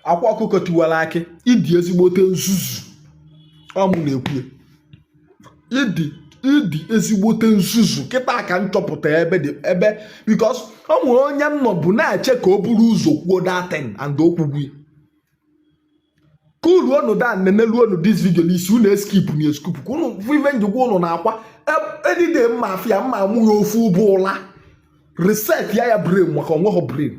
akwa ọkụkọ tiwara akị ị dị ezigbote nzuzu ọ mụ na-ekwu ị dị ị dị ezigbote nzuzu kịta ka m chọpụta ebe dị ebe because ọ nwere onye m nọ bụ na-eche ka o buru ụzọ kwuo that thing and o kwugo ka uru onu da nenelu onu this video n'isi unu eskipna eskip ka unu bụ ife njikwa unu na-akwa edide mma afịa mma amụghị ofu ụbụ ụla reset ya ya brain maka o nweghị brain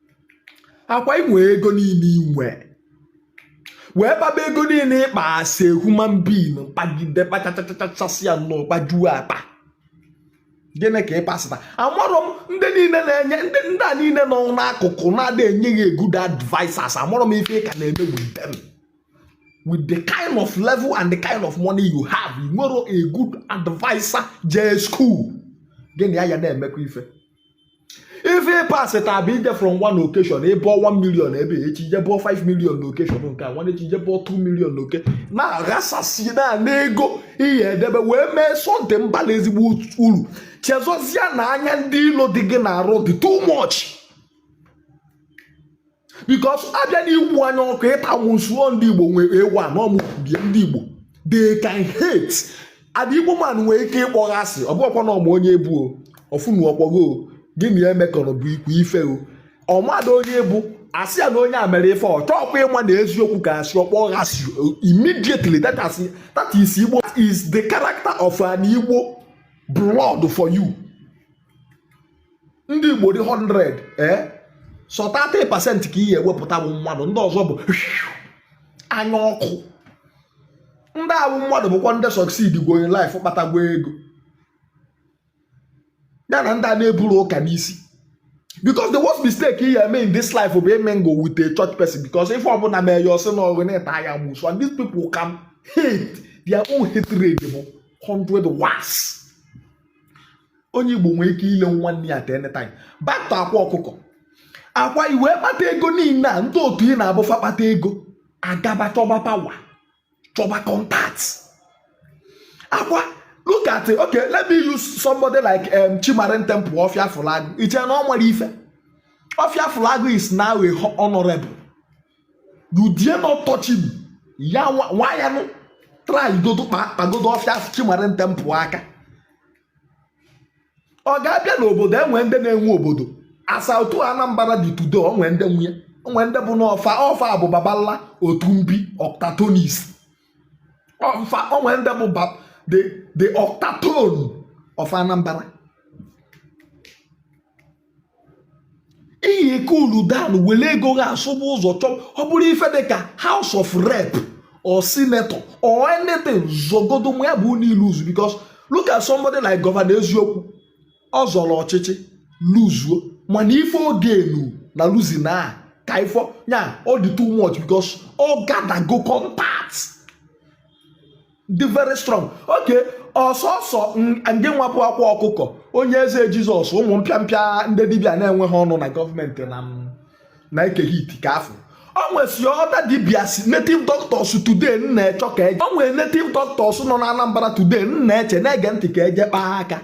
akwa i nwe ego niile i nwe wee kpaba ego niile ị kpa as a human being kpagide kpachachachachasịa nnọọ kpajuo akpa gịnị ka ị pasịta amarọ m ndị niile na-enye ndị ndị a niile nọ n'akụkụ na-ada enye gị good advisers amarọ m ife ị ka na-eme with them with the kind of level and the kind of money you have i nwere a good adviser jee school gịnị ya ya na-emekwa ife ife ị pasịta bụ i je from one occasion ị bọọ 1 million ebe echi i je bọọ 5 million n'occasion nke a nwanne echi i je bọọ 2 million loke na-aghasasị na n'ego ị ya-edebe wee mee something bala ezigbo uru chezọzie na anya ndị ilo dị gị n'arụ dị too much because a bịa na iwu anya ọkụ ịta amụsụ o ndị igbo nwere ewu a na ọmụbie ndị igbo they can hate an igbo man nwee ike ịkpọ ghị asị ọ bụghịkwa na ọ ma onye ị bụ o ọ fụnu ọ kpọgo gị na ya emekọrọ bụ ikwu ife o ọ marọ onye ị bụ a sị ya na onye a mere ife ọ chọọkwa ịma na eziokwu ka asị ọ kpọ ghị asị immediately that asị that is igbo is the character of an igbo blood for you ndị igbo dị 100 ee sọ 30 percent ka ị ya-ewepụta bụ mmadụ ndị ọzọ bụ anya ọkụ ndị a bụ mmadụ bụkwa ndị succeedgwo in life kpatagwo ego ya na ndị a na-eburu ụka n'isi because the worst mistake ị ya-eme in this life bụ imingle with a church person because ife ọbụla mee ya ọ sị na ọ gị na-ata ya amụsụ and these people can hate their own hatred bụ 100 watts onye igbo nwee ike ile nwanne ya at any time back to akwa ọkụkọ akwa i wee kpata ego niile a ndị otu ị na-abụ fa kpata ego agaba chọba power chọba contact akwa look at it okay let me use somebody like um, Chimarin Temple ọfịa fụlagụ i che na ọ nwere ife ọfịa fụlagụ is now a honorable you dare not touch him ya nwa ya nụ try godo kpagodo ọfịa asị chimarin temple aka ọ ga-abịa n'obodo e nwe ndị na-enwe obodo as otu anambra dị today o nwe ndị nwe ya o nwe ndị bụ na ọ fa ọ fa bụ babala otu mbi octatonis ọ fa o nwe ndị bụ the octatone of anambra ị ya-ekulu down were ego gị asụba ụzọ chọọ ọ bụrụ ife dị ka house of rep or senator or anything zọgodo ma ya bụ na i luzu because look at somebody like gọvanọ eziokwu ọ zọrọ ọchịchị luzuo mana ife o gainụ na losing a ka ị fụ ya ọ dị too much because ọ gathergo contact dị very strong okay ọ sọsọ ndị nwa bụ akwa ọkụkọ onye eze jizọs ụmụ mpịampịa ndị dibịa na-enweghị ọnụ na gọọmenti na na eke hit ka a fụ o nwesi other dibias native doctors today m na-eche ka eje o nwere native doctors nọ na anambra today m na-eche na-ege ntị ka eje kpaa aka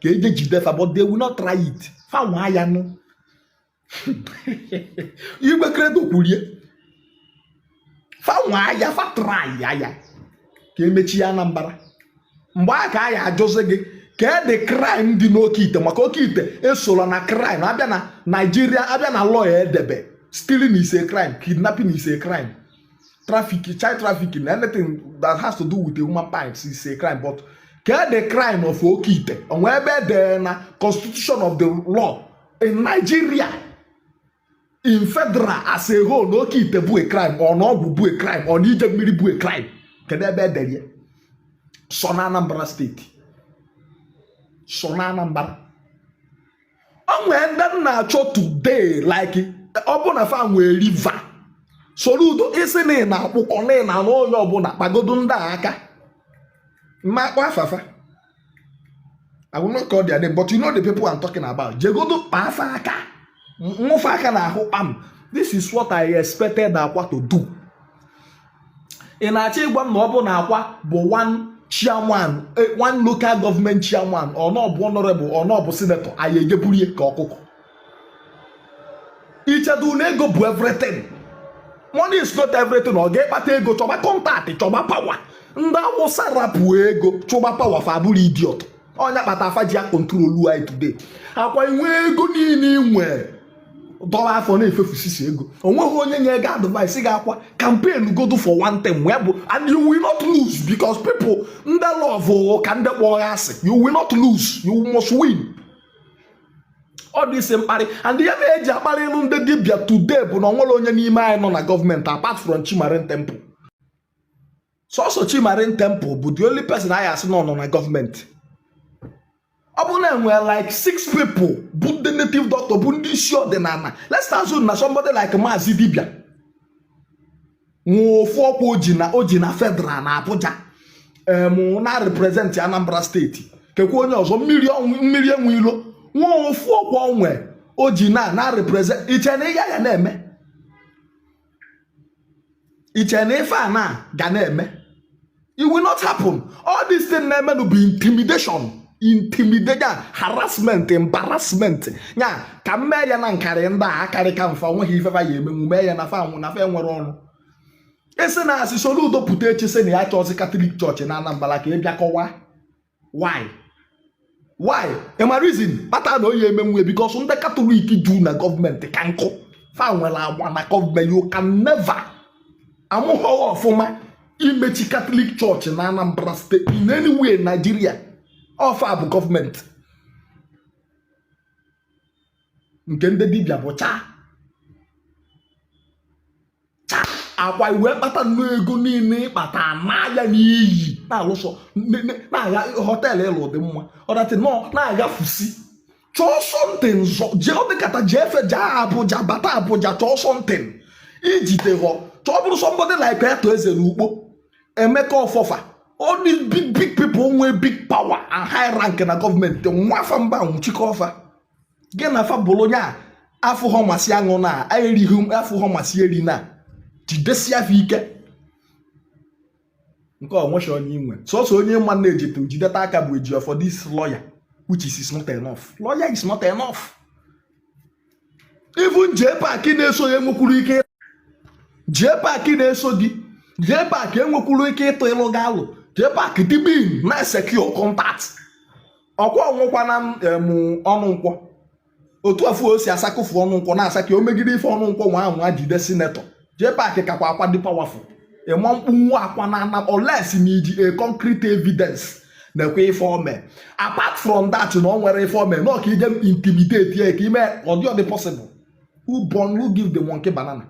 ka eje jide fa but they will not try it fa nwa ya nụ igwe credo kwulie fa nwa ya fa traịa ya ka emechie anambra mgbe a ka a ya-ajụzi gị kedụ kraịm dị n'oke ite maka oke ite esola na kraịm abịa na naijiria abịa na law e debe stealing is a crime kidnapping is a crime traffic child trafficking anything that has to do with the human parts is a crime but kedụ kraịm of oke ite o nwe ebe edere na constitution of the law in Nigeria in federal as a whole na oke ite bụ a crime or na ọgwụ bụ a crime or na ije mmiri bụ a crime kedu ebe edere ya sọ na Anambra steeti sọ na Anambra o nwee ndị m na-achọ today like ọ bụ na fa nwee liver Soludo ị sị na ị na-akpụkọ na ị na-anwụ onye ọbụla kpagodo ndị a aka m ma kpọ afa fa I will not call their name, but you know the people I'm talking about. Jegodo kpa fa aka, nwụ fa aka n'ahụ kpam. This is what I expected Akwa to do. Ị na-achọ ịgwa m na ọ bụ na Akwa bụ one chairman, eh, one local government chairman, or na ọ bụ honorable, or na ọ bụ senator, a ya-eje burie ka ọkụkọ. i chedu na ego bụ everything money is not everything ọ gị kpata ego chọba kọntaktị chọba pawa ndị awụsa rapụ ego chọba pawa fa abụrọ idiot ọ ya kpata fa ji akontrolu anyị today akwa i nwe ego niile i nwe dọla afọ na-efefusisi ego onweghị onye nye gị advice ga akwa campaign godo for one thing wee bụ and you will not lose because people ndị love ka ndị kpọ gị asị you will not lose you must win all this mkparị and ihe mere eji akparị iru ndị dibịa today bụ na o nwerọ onye n'ime anyị nọ na gọọmenti apart from Chimarin Temple sọsọ Chimarin Temple bụ the only person anyị asị na ọ nọ na gọọmenti ọ bụrụ na enwere like six people bụ ndị native doctor bụ ndị isi ọdịnala let's assume na somebody like Maazị Dibia nwee ofu ọkwa o ji na o ji na federal na Abuja em na represent Anambra state kekwa onye ọzọ mmiri ọnwụ- mmiri enwe ilo nwee ofu ọkwa o nwe o ji na na represent i che na ihe ya na-eme i che na ife a na ga na-eme it will not happen all this thing na-emenụ bụ intimidation intimidation harassment embarrassment ya ka m mee ya na nkarị ndị a akarịka m fa nweghị ife fa ya-emenwu mee ya na fa na fa enwere ọnụ e si na a sị Soludo pụta echi sị na ya chọọzi Catholic church na Anambra ka ị bịa kọwa why why ị ma reason kpata na ọ yị emenwu because ndị katọlik dụ na gọọmenti ka nkụ fa nwere agba na gọọmenti you can never a mụghọ ghị ọfụma imechi Catholic church na Anambra state in any way Nigeria ọ fa bụ gọọmenti nke ndị dibịa bụcha Akwa iwe kpata nnọọ ego niile ị kpata n'ahịa n'iyi na-alụsọ na-aga họteelụ ị lụ dị mma ọdatị nọ na-aghafusi chọọ something zọ jee ọ dịkata jee efe jee Abuja bata Abuja chọọ something i jite ego chọọ bụrụ somebody like Arthur Eze na Ukpo Emeka Offor fa all these big big people nwee big power and high rank na gọọmenti nwa fa mba nwechikọọ fa gị na fa bụrụ enyi a fụ ihe masị aṅụna erighị a fụ ihe masị erina jidesie afọ ike nke onwecha onye i nwe sọsọ onye manage to jideta aka bụ Ejiofor this lawyer which is, is not enough lawyer is not enough even jee paaki na-eso ya enwekwuru ike jee paaki na-eso gị jee paaki enwekwuru ike ịtụ ịlụ gị alụ jee paaki dibin na-secure contact ọkwa ọnwụkwa na Ọnụnkwọ otu afụ o si asakụfu Ọnụnkwọ na-asa ka o megide ife Ọnụnkwọ nwaa anwa jide senator jee paakị kakwa Akwa dị powerful ị ma kpụnwu Akwa na ana unless na i ji a concrete evidence na-ekwu ife o me apart from that na o nwere ife o me na ọ ka i je intimidate ya ka i me ọ dị ọ dị possible who born who give the monkey banana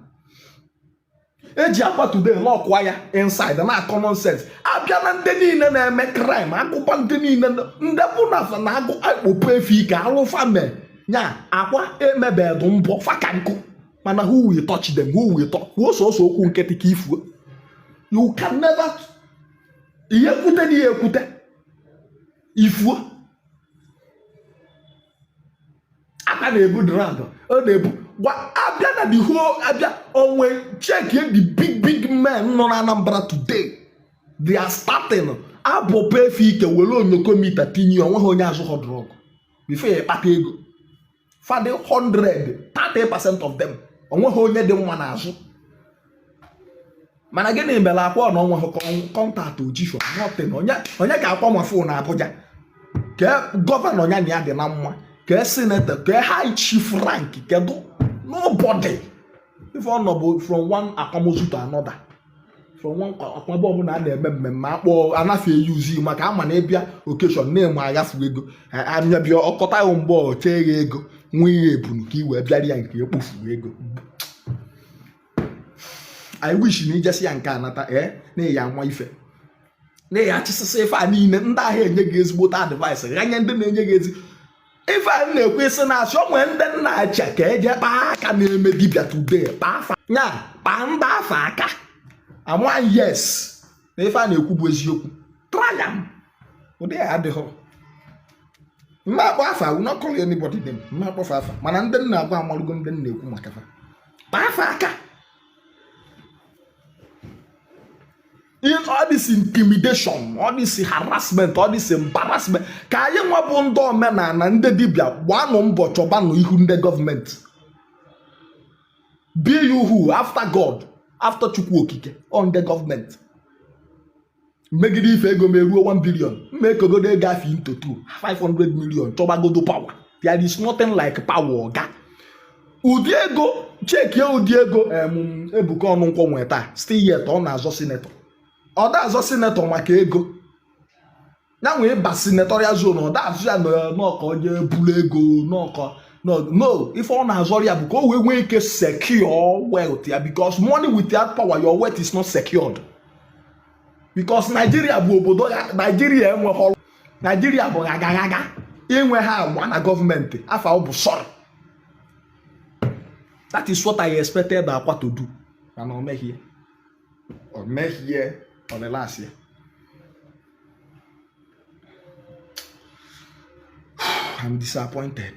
e ji Akwa today lock kwa ya inside na-akọ nonsense a bịa na ndị niile na-eme crime a gụba ndị niile ndị bụ na fa na agụ akpọpụ ife ike alụ fa mee nya Akwa emebedụ mbụ fa ka nkụ mana who will touch them who will touch kwuo sọsọ okwu nkịtị ka i fuo you can never ị ya ekwute na ị ya ekwute i fuo aka na-ebu drug ọ na-ebu gwa abịa na the whole abịa onwe check the big big men nọ na Anambra today their starting abụ pefe ike were onyokomita tinye o nweghị onye azụghọ drug before ya kpata ego fa dị 100 30 percent of them o nweghị onye dị nwa n'azụ mana gịnị mere Akwa ọ na o nwehụ contact o jishọ nothing onye ka Akwa nwe phone Abuja kee governor ya na ya dị na mma kee senator kee high chief rank kedu nobody ife ọ nọ bụ from one akwamozu to another from one akwaba ọbụla a na-eme mmemme akpọ anafe e use ị maka a ma na ị bịa occasion na-eme aghafu ego anya bịa ọ kọta ya mgbe ọ chee ya ego nwa ihe ebunu ka i wee bịara ya nke ekpofu ego i wish na i jesịa nke a nata ee eh, na ya ama ife na ya achịsịsị ife a niile ndị ahụ enye gị ezigbote advice ghanye ndị na-enye gị ezi ife a na-ekwesi na a sị o nwee ndị m na-achọ ka e je kpaa aka na-eme dibia today kpaa afa ya kpaa ndị afụ aka a ma yes na ife a na-ekwu bụ eziokwu try am ụdị ya adịghị m ma akpọ afa will not call anybody name m ma akpọ fa afa mana ndị m na-agwa amalụgo ndị m na-ekwu maka fa kpaa fa aka all this intimidation all this harassment all this embarrassment ka anyị nwa bụ ndị omenala ndị dibịa gbanụ mbọ chọbanụ ihu ndị gọọmenti be you who after God after Chukwu Okike ọ ndị gọọmenti megide ife ego m eruo 1 billion m ma ekegodo ego afụ into 2 500 million chọbagodo power there is nothing like power oga ụdị ego checkie ụdị ego Ebuka Onunkwo nwee taa still yet ọ na-azọ senator ọ da-azọ senator maka ego ya nwee ịba senatorial zone ọ da-azọ ya n'ọkọ onye buru ego n'ọkọ no ife ọ na-azọrọ ya bụ ka o wee nwee ike secure wealth ya because money without power your wealth is not secured because Nigeria bụ obodo ya Nigeria enweghị ọrụ Nigeria bụ agaghaga i nweghị agba na gọọmenti afa ị bụ sorry that is what I expected Akwa to do and o meghị ọ mehie ọlịlasị I'm disappointed.